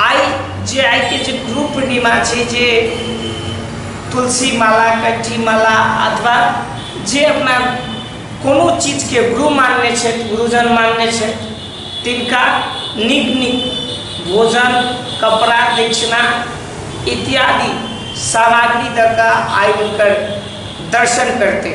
आई जे आई के जे गुरु पूर्णिमा छै जे तुलसी माला कंठी माला अथवा जे अपना कोनो चीजके गुरु मानने छथि गुरुजन मानने छथि तिनका नीक नीक भोजन कपड़ा दक्षिणा इत्यादि सामग्री दऽ कऽ आइ हुनकर दर्शन करतै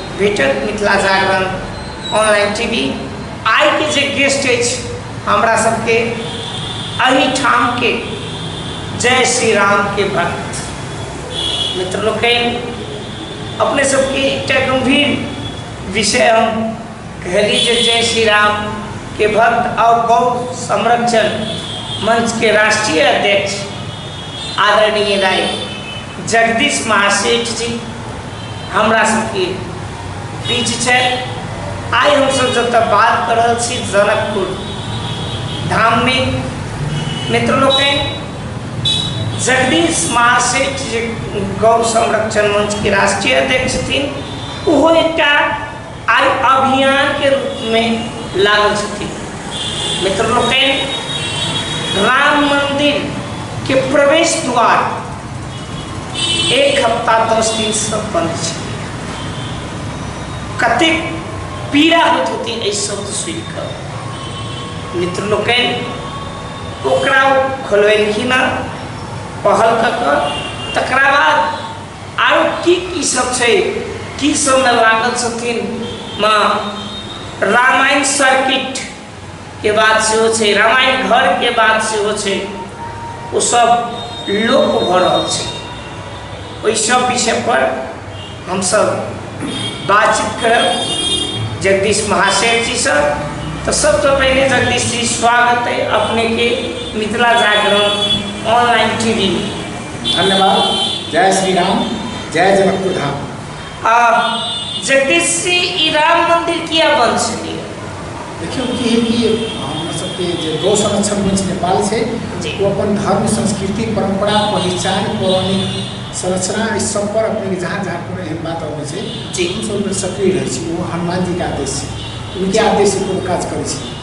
भेटत मिथिला जागरण ऑनलाइन टीवी आइ के जे गेस्ट अछि हमरा सबके एहिठाम के जय श्री राम के भक्त मित्र लोकनि अपने सबके एकटा गंभीर विषय हम कहली जे जय श्री राम के भक्त और गौ संरक्षण मंच के राष्ट्रीय अध्यक्ष आदरणीय राय जगदीश महासेठ जी हमरा सबके बीच छै आइ हमसब जतऽ बात कर रहल छी जनकपुर धाममे मित्र लोकनि जगदीश महासेठ जे गौ संरक्षण मंचके राष्ट्रीय अध्यक्ष छथिन ओहो एकटा आइ अभियानके रूपमे लागल छथिन मित्र लोकनि राम मन्दिरके प्रवेश द्वार एक हफ्ता दस दिनसँ बन्द छलै कतेक पीड़ा होइत होती एहि शब्द सुनि कऽ मित्र लोकनि ओकरा ओ खोलबेलखिन हँ पहल कऽ कऽ तकरा बाद आरो की की सब छै की सबमे लागल छथिन माँ रामायण सर्किट के बात सेहो छै रामायण घर के बात सेहो छै ओ सब लोप भऽ रहल छै ओहि सब विषय पर हमसब बातचीत करब जगदीश महाशय जी सर तो सबसे तो पहले जगदीश जी स्वागत है अपने के मिथिला जागरण ऑनलाइन टीवी में धन्यवाद जय श्री राम जय जनकपुर धाम आ जगदीश जी ई राम मंदिर किया बन छलिए देखियौ की है कि हमर सबके जे गौ संरक्षण मंच नेपाल छै जी। ओ अपन धर्म संस्कृति परंपरा पहचान पौराणिक संरचना ई सब पर अपने के जहाँ जहाँ कोनो एहन बात अबै छै जी। हम सब ओहिमे सक्रिय रहै छी ओ हनुमान जी के आदेश छै उनके आदेश से कोनो काज करै छी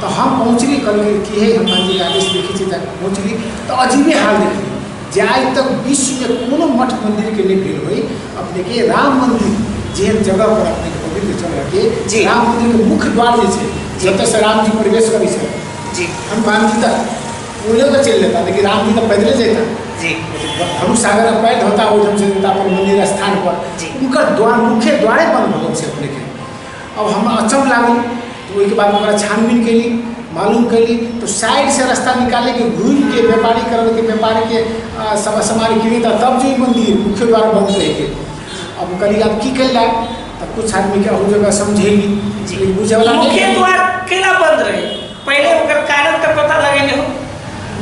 तऽ हम पहुँचली कहलकै कि हे हम मन्दिर आदेश देखै छी तऽ पहुँचली तऽ अजीबे हाल देखली जे आइ तक विश्वमे कोनो मठ मन्दिरके नहि भेल होइ अपनेके राम मन्दिर जेहन जगहपर अपनेके पवित्र जगहके जी। राम मन्दिरके मुख्य द्वार जे छै जतयसँ रामजी प्रवेश करै छै जी हम कहब कि तऽ ओ लऽ कऽ चलि जेता लेकिन रामजी तऽ पैदले जेता जी धनु सागर अब पैद होता ओहिठाम से देवता पर मंदिर स्थान पर जी। उनकर द्वार मुख्य द्वारे बंद भऽ गेल छै अपने के अब हम अचम लागल तो ओहिके बाद ओकरा छानबीन कैली मालूम कैली तो साइड से रास्ता निकाले के घूम के व्यापारी करल के व्यापारी के आ, सब सामान किनी था तब जो ई मंदिर मुख्य द्वार बंद रह के अब करी आप की कैला तब कुछ आदमी के अहू जगह समझेली लेकिन बुझे वाला नहीं मुख्य है। द्वार केना बंद रहे पहले ओकर कारण तऽ पता लगेले हो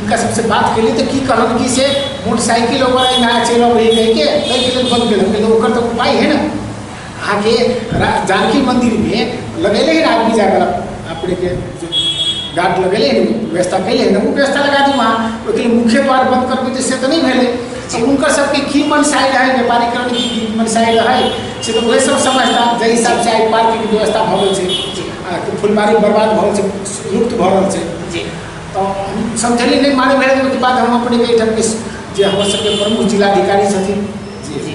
उनका सबसे बात कैली तो की कहलन कि से मोटरसाइकिल ओकरा यहाँ चलि अबै कहि के ताहि के लेल बंद कैलन ओकर तो उपाय है ना अहाँके जानकी मन्दिरमे लगेले है आदमी जाकर अपनेके गार्ड लगेले है व्यवस्था कैले है ओ व्यवस्था लगा दी वहाँ ओहिके लिए मुख्य द्वार बंद करके जे से तऽ नहि भेलै से हुनकर सबके की मनसाइ रहै व्यापारीकरण की की मनसाइ रहै से तऽ ओहे सब समझता जाहि हिसाब से आइ पार्कके व्यवस्था भऽ गेल छै आ कि फुलबारी बर्बाद भऽ गेल छै लुप्त भऽ रहल छै जी तऽ हम समझलियै नहि मालूम भेल ओहिके बाद हम अपनेके एहिठामके जे हमर सबके प्रमुख जिलाधिकारी छथिन जी जी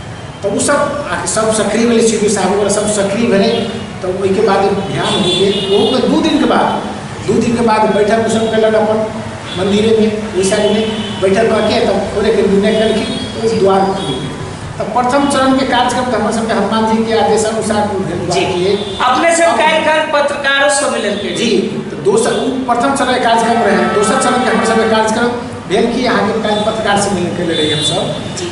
तऽ ओ सब आके सब सक्रिय भेलै सी डी साहब वगैरह सब सक्रिय भेलै तऽ ओहिके बाद ध्यान हो गेल ओहोके दू दिनके बाद दू दिनके बाद बैठक ओ सब कयलक अपन मन्दिरेमे ओहि साइडमे बैठक कऽ के तब खोलैके निर्णय केलखिन तऽ ओ द्वार खुल गेल तऽ प्रथम चरणके कार्यक्रम तऽ हमर सबके हनुमान जीके आदेशानुसार ओ भेल जी द्वार के। अपने सब काल्हि काल्हि पत्रकारो सब मिललकै जी तऽ दोसर ओ प्रथम चरण के कार्यक्रम रहै दोसर चरण के हमर सबके कार्यक्रम भेल कि अहाँके काल्हि पत्रकार से मिलल कयले रही हमसब जी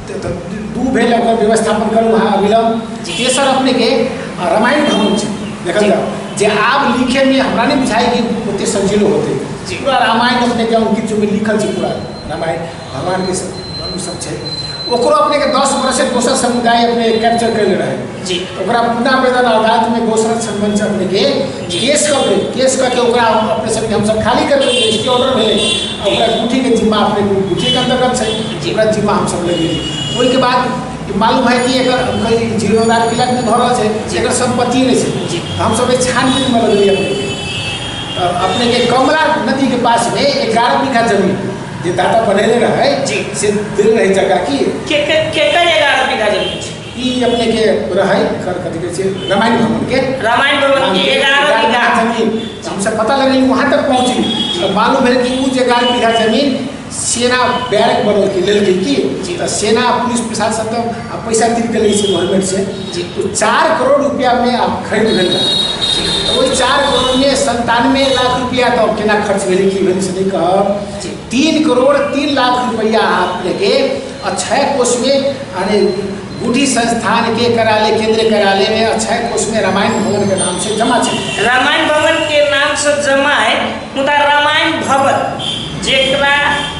दू भेल ओकर व्यवस्थापन करू अहाँ अविलम्ब तेसर अपने के रामायण भवन छै देखल जाओ जे आब लिखे में हमरा नहीं बुझाई कि ओते संजीलो होते पूरा रामायण अपने के अंकित जो लिखल छै पूरा रामायण भगवान के सब सब छै ओकरो अपने के दस वर्ष से दोसर समुदाय अपने कैप्चर कर रहे जी ओकरा पुनः वेदन अदालत में दोसर संबंध से अपने के केस कऽ के केस कऽ के ओकरा पेशेंटके हमसभ खाली करबै रजिस्ट्री ऑर्डर भेलै आ ओकरा ड्यूटीके जिम्मा अपने ड्यूटीके अंतर्गत छै ओकरा जिम्मा हमसभ लगेली ओहिके बाद मालूम है कि एकर कहीं जीर्णोद्धार क्रियाक भी भऽ रहल छै जे एकर सम्पत्ति नहि छै जी। तऽ हमसभ एहि छानबीनमे लगेली अपनेके तऽ अपनेके कमला नदीके पासमे एगारह बीघा जमीन जे दादा बनेले रहै जी। से देले रहै जगह की केकर केकर एगारह बीघा जमीन छै ई अपने के रहै कर कथी कहै छै रामायण भवन के रामायण भवन के एगारह बीघा जमीन हमसे पता लगल वहाँ तक पहुँची तो मालूम भेल कि उ एगारह बीघा जमीन सेना बैरक बनल के लेल की तो सेना पुलिस प्रशासन तो आ पैसा गिर के से गवर्नमेंट से तो चार करोड़ रुपया में आप खरीद भेल तो वही चार करोड़ में संतानवे लाख रुपया तो केना खर्च भेल की भेल से नहीं कहब तीन करोड़ तीन लाख रुपया आप लेके अक्षय कोष में यानी गुडी संस्थान के कार्यालय केंद्रीय कार्यालय में अक्षय कोष में रामायण भवन के नाम से जमा छै रामायण भवन के नाम से जमा है मुदा रामायण भवन जेकरा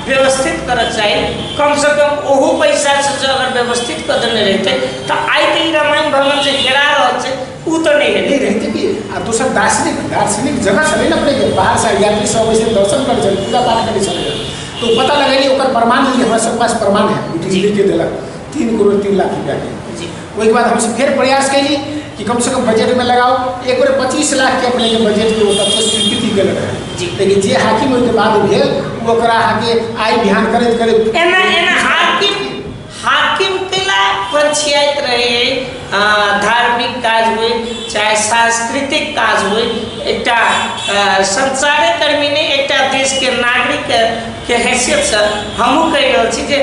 व्यवस्थित करऽ चाही कम से कम ओहू पैसा से जो अगर व्यवस्थित कर देने रहते तो आइ तऽ ई रामायण भवन जे हेरा रहल छै ऊ तऽ नहि हेतै रहतै कि आ दोसर दार्शनिक दार्शनिक जगह छलै ने अपनेके बाहरसँ यात्री सब अबै दर्शन करै छलै पूजा पाठ करै छलै तो पता लगे कि ओकर प्रमाण जे हमरा सब पास प्रमाण है ओ चीज लेके देलक तीन करोड़ तीन लाख रुपयाके ओहिके बाद हमसब फेर प्रयास कयली कि कमसँ कम बजटमे लगाओ एक बेर पच्चीस लाखके अपनेके बजटके ओ तत्व स्वीकृति गेल रहै लेकिन जे हाकिम ओहिके बाद भेल ओ ओकरा अहाँके आइ बिहान करैत करैत एना एना हाकिम हाकिम तिला पर छियाइत रहै धार्मिक काज होइ चाहे सांस्कृतिक काज होइ एकटा संसारे कर्मी नहि एकटा देशके नागरिकके हैसियतसँ हमहूँ कहि रहल छी जे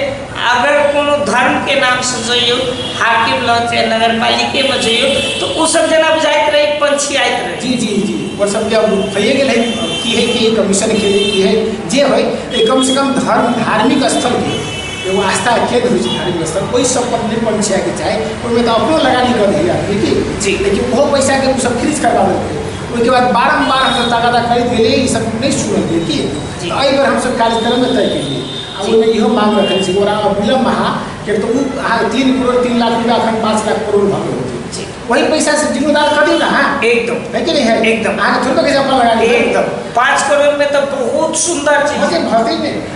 अगर कोनो धर्मके नामसँ जइयौ हाकिम लग चाहे नगर पालिकेमे जइयौ तऽ ओसभ जेना बुझाइत रहै पंछियाइत रहै जी जी जी ओ सभके भइए गेल है की है कि कमीशन के लिए की है जे होइ कमसँ कम धर्म धार्मिक स्थलके एगो आस्था के होइ छै धार्मिक स्थल ओहि सब पर निर्भर छै के चाही ओहिमे तऽ अपनो लगानी कर दी आदमी की जी लेकिन ओहो पैसा के सब खरीद करवा देलकै ओहिके बाद बारम्बार हमसब तगादा करैत गेलियै ई सब नहि सुनल गेल की जी। तऽ एहि बेर हमसब कार्यक्रम में तय केलियै आ जी। ओहिमे इहो मांग रखने छी ओकरा अविलम्ब अहाँ किएक तऽ ओ अहाँ तीन करोड़ तीन लाख रुपया अखन पाँच लाख करोड़ भऽ गेल होतै जी। वही पैसा से जिम्मेदार कर दियौ ना अहाँ एकदम है कि नहीं है एकदम। अहाँके थोड़े पैसा अपना लगा लिअ एकदम पाँच करोड़ में तो बहुत सुन्दर चीज है। भते भते नहि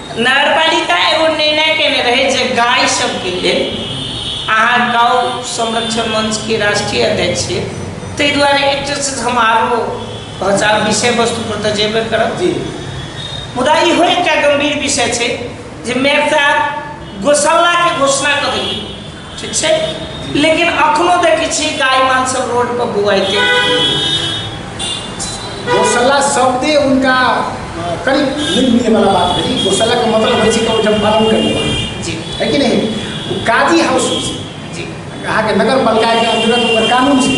नगरपालिका एगो निर्णय केने रहे जे गाय सबके लेल अहाँ गाँव संरक्षण मंच के राष्ट्रीय अध्यक्ष छियै ताहि दुआरे एकटा से हम आरो पहुँचा विषय वस्तु पर तऽ जेबे करब जी मुदा इहो एकटा गंभीर विषय छै जे मेयर साहब गोशाला के घोषणा कऽ देलियै ठीक छै लेकिन अखनो देखै छी गाय मान सब रोड पर बुआइते गोसल्ला शब्दे उनका करीब नहीं मिले वाला बात है गोसल्ला का मतलब है कि जब पालन करेंगे जी है कि नहीं वो काजी हाउस से जी कहा के नगर पालिका के अंतर्गत ओकर कानून से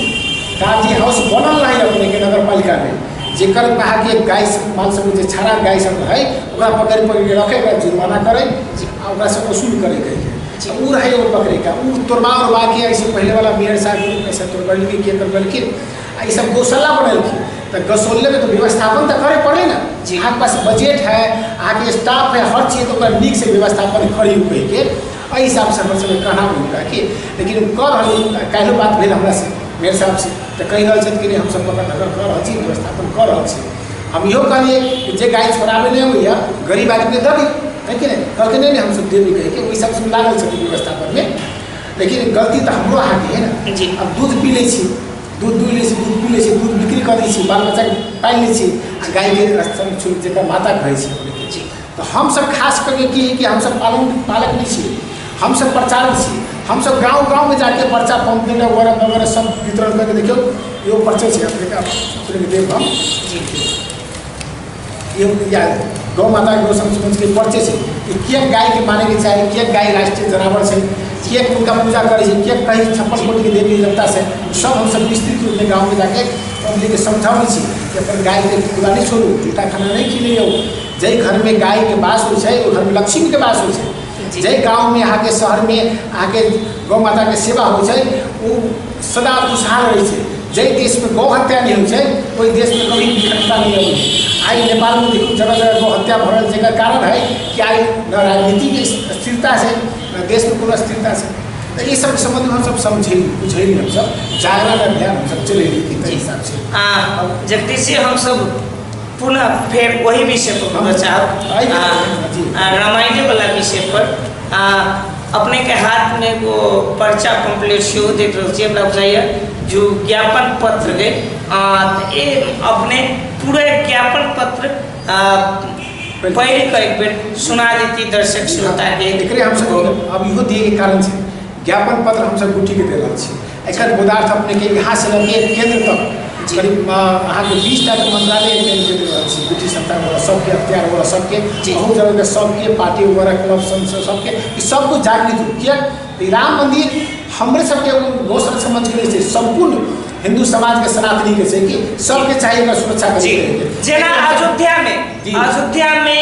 काजी हाउस बनल रहे अपने के नगर पालिका में जेकर कहा के गाय से माल सब जे छाड़ा गाय सब है ओकरा पकड़ पकड़ के रखे ओकरा जुर्माना करे आ ओकरा से वसूल करे के अच्छा ऊ रहे एगो पकड़े का ऊ तोड़बा उड़बा के ऐसे पहले वाला मेयर साहब के रूप में से तोड़बेलखिन के तोड़बेलखिन आ ई सब गौशाला बनेलखिन तो गौशाले में तो व्यवस्थापन तो करे पड़े ना जी। अहाँके पास बजट है अहाँके स्टाफ है हर चीज तो ओकर नीक से व्यवस्थापन करी उकई के एहि हिसाब से हमर सबके कहना भेल का कि लेकिन ऊ कह रहल काल्हि बात भेल हमरा से मेयर साहब से तऽ कहि रहल छथि कि नहि हमसभ पकड़ धकड़ कऽ रहल छी व्यवस्थापन कऽ रहल छी हम इहो कहलिए कि जे गाड़ी छोड़ाबे नहीं हुई गरीब आदमी के दबी है कि नहीं कहते नहीं हम सब देवी कहे कि वही सब सुन लागल छथिन व्यवस्था पर में लेकिन गलती तो हमरो अहाँ के है ना जी। अब दूध पी लै छी दूध दूह लै छी दूध पी लै छी दूध बिक्री कऽ दै छी बाल बच्चाके पालि लै छी आ गायके स्तन छू जकर माता कहै छी अपने तऽ हमसभ खास करके की कि हमसभ पालन पालक भी छी हमसभ प्रचारक छी हमसभ गाँव गाँवमे जाके पर्चा पम्पलेट वगैरह वगैरह सब वितरण करके देखियौ एगो पर्चे छै अपनेके आप अपनेके देब हम एगो या गौ माता गौ संरक्षणके पर्चे छै कि किएक गायके मानैके चाही किएक गाय राष्ट्रीय जनावर छै किएक हुनका पूजा करै छै किएक कही छप्पन कोटिके देवी देवता छै सब हमसभ विस्तृत रूपमे गाँवमे जाके पब्लिकके समझाबै छी कि अपन गायके खुला नहि छोड़ू जूठा खाना नहि खिलैयौ जाहि घरमे गायके बास होइ छै ओहि घरमे लक्ष्मीके बास होइ छै जाहि गाँवमे अहाँके शहरमे अहाँके गौ माताके सेवा होइ छै ओ सदा खुशहाल रहै छै जाहि देशमे गौ हत्या नहि होइ छै ओहि देशमे कभी विकटता नहि अबै छै आइ नेपालमे देखू जगह जगह गौ हत्या भऽ रहल छै एकर कारण है कि आइ न राजनीतिक स्थिरता छै न देशमे कोनो स्थिरता छै तऽ ई सब सम्बन्ध हमसब समझै बुझै हमसब जागरण अभियान हमसब चलेली कि ताहि हिसाबसँ आ जगदीश जी हमसब पुनः फेर वही विषय पर बोलऽ चाहब आ, आ, रामायणे वाला विषय पर आ, अपने के हाथ में एगो पर्चा पम्पलेट सेहो देख रहल छियै हमरा बुझाइए जो ज्ञापन पत्र के आ, तऽ ए अपने पूरा ज्ञापन पत्र आ, पढ़ि कऽ एक बेर सुना देती दर्शक श्रोता के एकरे हमसब अब इहो दिए के कारण छै ज्ञापन पत्र हमसब गुटी के देला छी एकर पदार्थ अपनेके यहाँ से लगे केंद्र तक करीब अहाँके बीस टा के मंत्रालय एटेंड कर रहल छी ब्रिटिश सरकार वाला सबके अख्तियार वाला सबके बहुत जगह के सबके पार्टी वगैरह क्लब संसद सबके ई सब कुछ जागृत हो किया ई राम मंदिर हमरे सबके रोशन समझ के लिए छै संपूर्ण हिंदू समाज के सनातनी के छै कि सबके चाहिए एकर सुरक्षा जी करके जेना अयोध्या में जी। अयोध्या में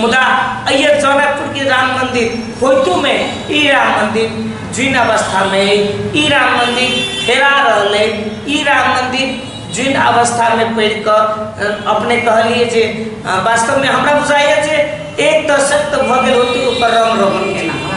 मुदा अय्यर जनकपुर के राम मंदिर होइतो में ई राम मंदिर जीर्ण अवस्था में है ई राम मंदिर हेरा रहल है ई राम मंदिर जीर्ण अवस्था में पढ़ कर अ, अपने कहलिए जे अ, वास्तव में हमरा बुझाइए जे एक दशक तो भऽ गेल होते ओकर रंग रोगन केना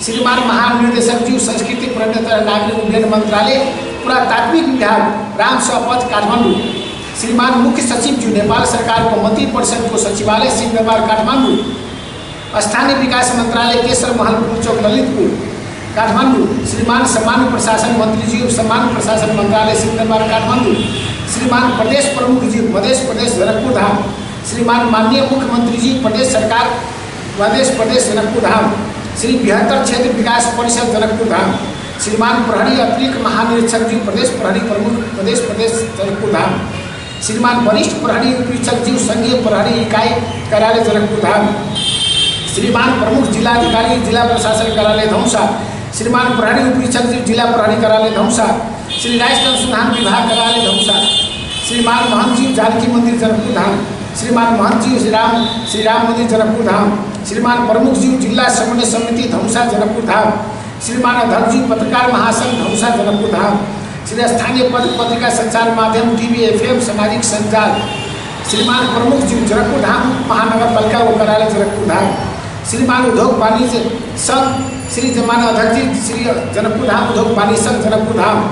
श्रीमान महानिर्देशक जी संस्कृति पर्यटन तथा नागरिक उड्डयन मंत्रालय पुरातात्विक विभाग राम सपथ काठमांडू श्रीमान मुख्य सचिव जी नेपाल सरकार को मंत्री परिषद को सचिवालय सिंह व्यापार काठमांडू स्थानीय विकास मंत्रालय केसर महल पुल चौक ललितपुर काठमांडू श्रीमान सामान्य प्रशासन मंत्री जी सामान्य प्रशासन मंत्रालय सिंह व्यापार काठमांडू श्रीमान प्रदेश प्रमुख जी मध्य प्रदेश गोरखपुर धाम श्रीमान माननीय मुख्यमंत्री जी प्रदेश सरकार प्रदेश प्रदेश जनकपुर धाम श्री बृहत्तर क्षेत्र विकास परिषद जनकपुर धाम श्रीमान प्रहरी अतिरिक्त महानिरीक्षक जी प्रदेश प्रहरी प्रमुख प्रदेश प्रदेश जनकपुर धाम श्रीमान वरिष्ठ प्रहरी उपरीक्षक जी संघीय प्रहरी इकाई कार्यालय जनकपुर धाम श्रीमान प्रमुख जिलाधिकारी जिला प्रशासन कार्यालय धौसा श्रीमान प्रहरी उपरीक्षक जी जिला प्रहरी कार्यालय धौसा श्री राष्ट्र अनुसंधान विभाग कार्यालय धौसा श्रीमान महंत जी जानकी मंदिर जनकपुर धाम श्रीमान महंत जी श्री राम श्री राम मंदिर जनकपुर धाम श्रीमान प्रमुख जी जिला समन्वय समिति धनुषा जनकपुर धाम श्रीमान अध्यक्ष जी पत्रकार महासंघ धनुषा जनकपुर धाम श्री स्थानीय पद पत्रिका संचार माध्यम टीवी एफएम सामाजिक संचार श्रीमान प्रमुख जी जनकपुर धाम महानगर पालिका व कार्यालय जनकपुर धाम श्रीमान उद्योग वाणिज्य संघ श्री जमान अध्यक्ष जी श्री जनकपुर धाम उद्योग वाणिज्य संघ Janakpur Dham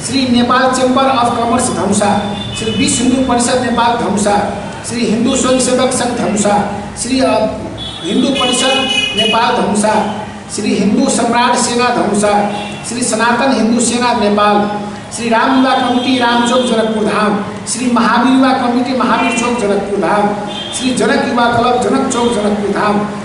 Shri Nepal chamber of commerce Dhanusha Shri Vishwa Hindu परिषद नेपाल धनुषा श्री हिन्दू स्वयंसेवक संघ धनुषा श्री हिन्दू परिषद नेपाल धनुषा श्री हिन्दू सम्राट सेना धनुषा श्री सनातन हिन्दू सेना Nepal Shri Ram Yuva committee Ram Chowk Janakpur Dham Shri Mahavir Yuva committee Mahavir Chowk Janakpur Dham Shri Janak Yuva club जनक चौक जनकपुर धाम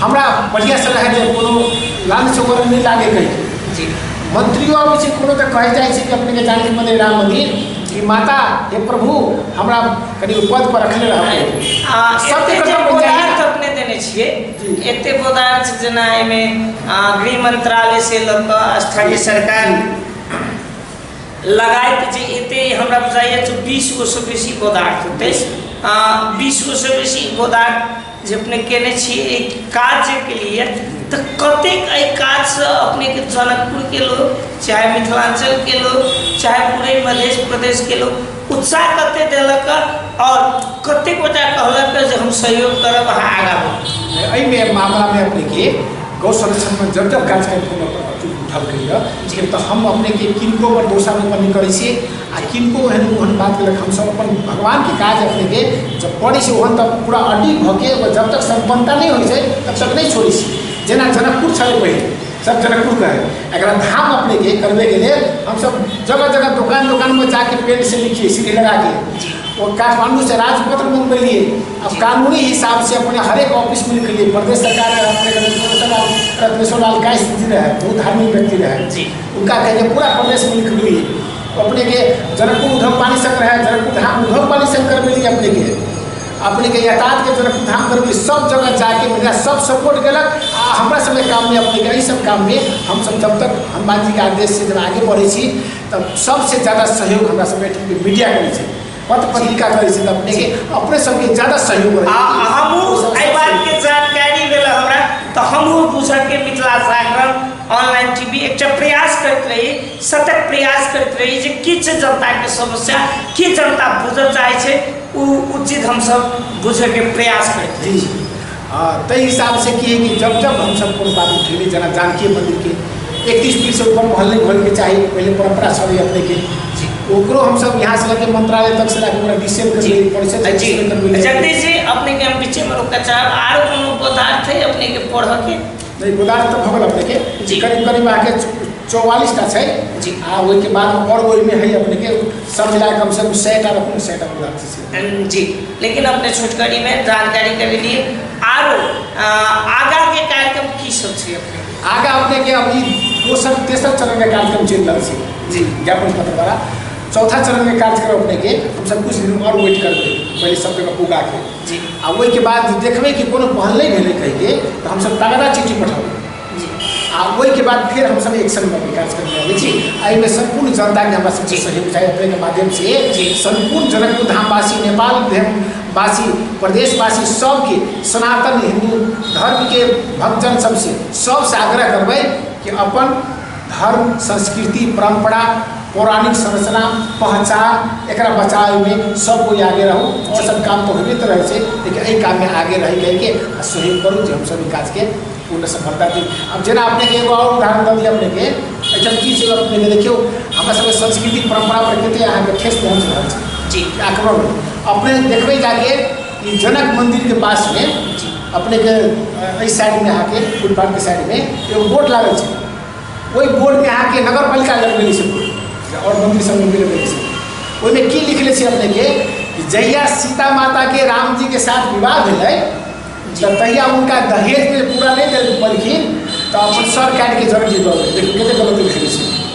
हमरा बढ़िया से रहे जे कोनो लाल से ओकरा नहीं लागे कहीं जी मंत्रियों आबै छै कोनो तऽ कहै जाइ छै कि अपने के जाने के बदले राम मंदिर कि माता हे प्रभु हमरा कनि ओ पद पर रखले रहबै आ, सबके एते जे कतऽ बोधार पंचायत तऽ अपने देने छियै जी। एते बोधार छै जेना एहिमे आ, गृह मंत्रालय से लऽ कऽ स्थानीय सरकार लगायत जे एते हमरा बुझाइए जे बीस गो से बेसी बोधार हेतै बीस गो से बेसी बोधार जे अपने केने छी एहि कार्यके लिए तऽ कतेक एहि कार्यसँ अपनेके जनकपुरके लोक चाहे मिथिलाञ्चलके लोक चाहे पूरे मधेश प्रदेशके लोक उत्साह कतेक देलक आओर कतेक गोटा कहलक जे हम सहयोग करब अहाँ आगाँ बढ़ू एहिमे मामलामे अपनेके गौ संरक्षणमे जब जब कार्यक्रम उठलकैए तऽ हम अपनेके किनको भरोसा नहि करै छी आ किनको एहन ओहन बात लग हमसभ अपन भगवानके काज अपनेके जब करै छी ओहन तब पूरा अडिग भऽ के ओ जब तक सम्पन्नता नहि होइ छै तब तक नहि छोड़ै छी जेना जनकपुर छलै पहिले सब जनकपुर कहै एकरा धाम अपनेके करबैके लेल हमसभ जगह जगह दोकान दोकानमे जाके पेंट से लिखिए सीढ़ी लगाके ओ काठमांडू से राजपत्र मंगबेलिए अब कानूनी हिसाब से अपने हरेक ऑफिस में लिखलिए प्रदेश सरकार रहे, अपने रत्नेश्वर लाल रत्नेश्वर लाल का स्थिति रहे बहुत धार्मिक व्यक्ति रहे जी। उनका कहिके पूरा प्रदेश में लिखलिए अपने के जनकपुर उधम पाली शंकर है जनकपुर धाम उधम पाली शंकर मिली अपने के अपने के यातायात के जनकपुर धाम पर भी सब जगह जाके मेरा सब सपोर्ट केलक आ हमरा सब के काम में अपने के एहि सब काम में हम सब जब तक हनुमान जी के आदेश से जब आगे बढ़े छी तब सबसे ज़्यादा सहयोग हमरा सब के मीडिया करे छै पत्र पत्रिका करे छै तब अपने के अपने सबके ज़्यादा सहयोग करे आ हमहूँ एहि बातके जानकारी भेल हमरा तऽ हमहूँ बुझके मिथिला जागरण ऑनलाइन टीवी एकटा प्रयास करैत रही सतत प्रयास करैत रही जे की छै जनताके समस्या की जनता बुझऽ चाहै छै ओ ओ चीज हमसब बुझैके प्रयास करैत रही जी ताहि हिसाबसँ की है कि जब जब हमसब कोनो बात उठेली जेना जानकी मन्दिरके एकतीस पीस ऊपर महल नहि होइके चाही पहिले परम्परा छलै अपनेके जी ओकरो हमसब यहाँ से लगे मंत्रालय तक से लगे ओकरा डिसेल कर जी परिषद जी जगदीश जी अपने के हम बीचे में रोकना चाहब आरो कोनो पदार्थ है अपने के पढ़ के नहि गोदान तऽ भऽ गेल अपनेके जी। करीब करीब अहाँके चौवालीस टा छै जी। आ ओहिके बाद आओर ओहिमे है अपनेके सब मिला कम से कम सए टा रखू सए टा पूरा छै से। अम, जी लेकिन अपने छोटकरी में जानकारी कर लिए आरो अ, आगा के कार्यक्रम की सब छै अपने आगा अपनेके अब ई दोसर तेसर चरणके कार्यक्रम चलि रहल छै जी। ज्ञापन पत्र द्वारा चौथा चरणके कार्यक्रम अपनेके हमसब कुछ दिन आओर वेट करबै पहिले सब जगह पुगाके जी आ ओहिके बाद जे देखबै कि कोनो पहल नहि भेलै कहिके तऽ हमसभ तगड़ा चिट्ठी पठाबै जी आ ओहिके बाद फेर हमसभ एक्शनमे विकास करके आबै छी आ एहिमे सम्पूर्ण जनताके हमरा सबके सहयोग चाही अपनेके माध्यम से जी। सम्पूर्ण जनकपुर धामवासी नेपाल वासी प्रदेशवासी सबके सनातन हिन्दू धर्मके भक्तजन सबसे सबसे आग्रह करबै कि अपन धर्म, संस्कृति, परम्परा, पौराणिक संरचना, पहचान एकरा बचावे में सब कोई आगे रहो। और सब काम तो होइबे त रहे छे लेकिन एहि काम में आगे रहि कहि के आ सहयोग करू जे हम सब ई काज के पूर्ण सफलता दी। अब जेना अपने के एगो और उदाहरण द दी अपने के एहिठाम की छै अपने के देखियो हमरा सब के संस्कृति परम्परा पर कते अहाँ के ठेस पहुँच रहल छै। जी। आक्रमण अपने देखबे जाके ई जनक मन्दिरके पासमे अपनेके एहि साइडमे अहाँके फुटपाथके साइडमे एगो बोर्ड लागल छै ओहि बोर्डमे अहाँके नगर पालिका लगबेले छै बोर्ड आओर मन्दिर सब लगबेले छै ओहिमे की लिखले छै अपनेके कि जहिया सीता माताके रामजीके साथ विवाह भेलै तऽ तहिया हुनका दहेजमे पूरा नहि देल पलखिन तऽ अपन सर काटिके जर दिलऽ देखियौ कतेक गलत लिखले छै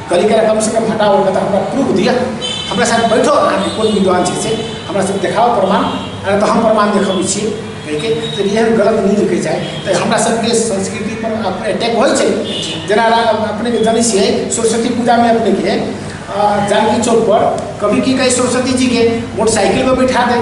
कभी कभी कम से कम हटा उठा हमरा प्रूफ दिया हमरा साथ बैठो अहाँके कोन विद्वान छै से हमरा सब देखाओ प्रमाण अरे तो हम प्रमाण देखबै छी कहिके तऽ एहन गलत नहि देखै जाइ तऽ हमरा सबके संस्कृति पर अपने अटैक होइ छै जेना अपने के जानै छियै सरस्वती पूजा में अपने के जानकी चौक पर कभी की कहे सरस्वती जी के मोटरसाइकिल पर बैठा दे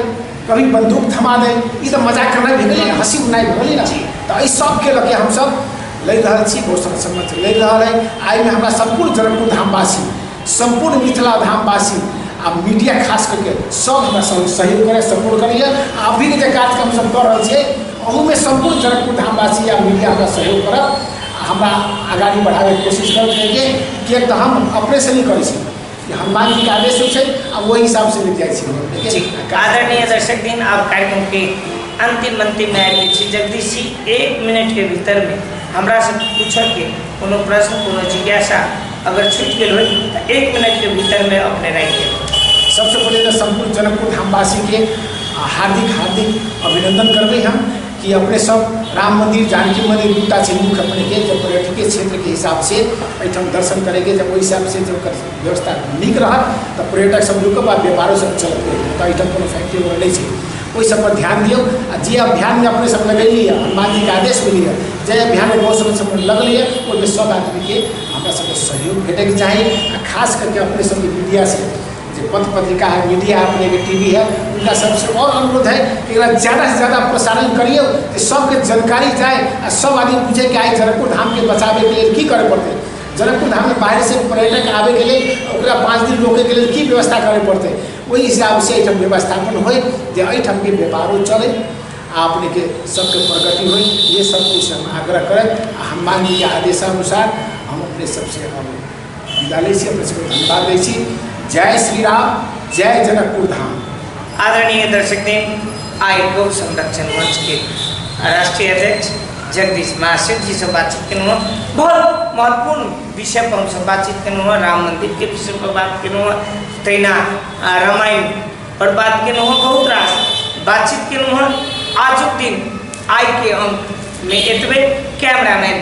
कभी बंदूक थमा दे ई तऽ मजाक करनाइ भेलै हँसी उड़नाइ भेलै ने तऽ एहि सबके लऽ के हमसब लय रहल छी बहुत सारा सम्मत लय रहल है आइमे हमरा सम्पूर्ण जनकपुर धामवासी सम्पूर्ण मिथिला धामवासी आ मीडिया खास करके सब हमरा सब सहयोग करे सपोर्ट करैए आ अभी के जे कार्यक्रम सब कर रहल छियै ओहूमे सम्पूर्ण जनकपुर धामवासी या मीडिया हमरा सहयोग करब आ हमरा आगाड़ी बढ़ाबैके कोशिश करब किएकि किएक तऽ हम अपने से नहि करै छी कि हनुमान जी के आदेश होइ छै आ ओहि हिसाब से लिख जाइ छी हम लोग, ठीक जी है? आदरणीय दर्शक दिन आप कार्यक्रम के अंतिम अंतिम में आयल छी जगदीश जी एक मिनट के भीतर में हमरा से पूछे के कोनो प्रश्न कोनो जिज्ञासा अगर छूट गेल हो तो एक मिनट के भीतर में अपने राखि देब सबसे पहले तो संपूर्ण जनकपुर धामवासी के हार्दिक हार्दिक अभिनंदन करबे हम कि अपने सब राम मंदिर जानकी मंदिर दूटा छै मुख्य अपने के जब पर्यटक क्षेत्र के हिसाब से एहिठाम दर्शन करेंगे जब ओहि हिसाब से जब व्यवस्था नीक रहत तो पर्यटक सब रुक आ व्यापारो सब चलते तो एहिठाम कोनो फैक्ट्री वगैरह नहीं छै ओहि सब पर ध्यान दियो आ जे अभियान में अपने सब लगेली है हनुमान जी के आदेश मिली है जे अभियान में बहुत समय समय लगल है ओहिमे सब आदमी के हमरा सबके सहयोग भेटे के चाही आ खास करके अपने सबके मीडिया से जे पथ पत्रिका है मीडिया है अपने के टीवी है उनका सबसे और अनुरोध है कि एकरा ज्यादा से ज्यादा प्रसारण करियो कि सबके जानकारी जाए आ सब आदमी पूछे कि आइ जनकपुर धाम के बचावे के लिए की करे पड़ते जनकपुर धाम में बाहर से पर्यटक आवे के लिए ओकरा पाँच दिन रोके के लिए की व्यवस्था करे पड़ते ओहि हिसाब से एहिठाम व्यवस्थापन होय जे एहिठाम के व्यापारो चले आ अपने के सबके प्रगति होय ये सब कुछ हम आग्रह करब आ हनुमान जी के आदेशानुसार हम अपने सबसे हम विदा लै छी अपने सबके धन्यवाद दै छी जय श्री राम जय जनकपुर धाम आदरणीय दर्शक दिन आय गौ संरक्षण मंच के राष्ट्रीय अध्यक्ष जगदीश महाशिव जी से बातचीत केलहुँ हँ। बहुत महत्वपूर्ण विषय पर हमसब बातचीत केलहुँ हँ। राम मंदिर के विषय पर बात केलहुँ हँ। तहिना आ, रामायण पर बात केलहुँ हँ। बहुत रास बातचीत केलहुँ हँ। आजुक दिन आइ के अंक में एतबे कैमरामैन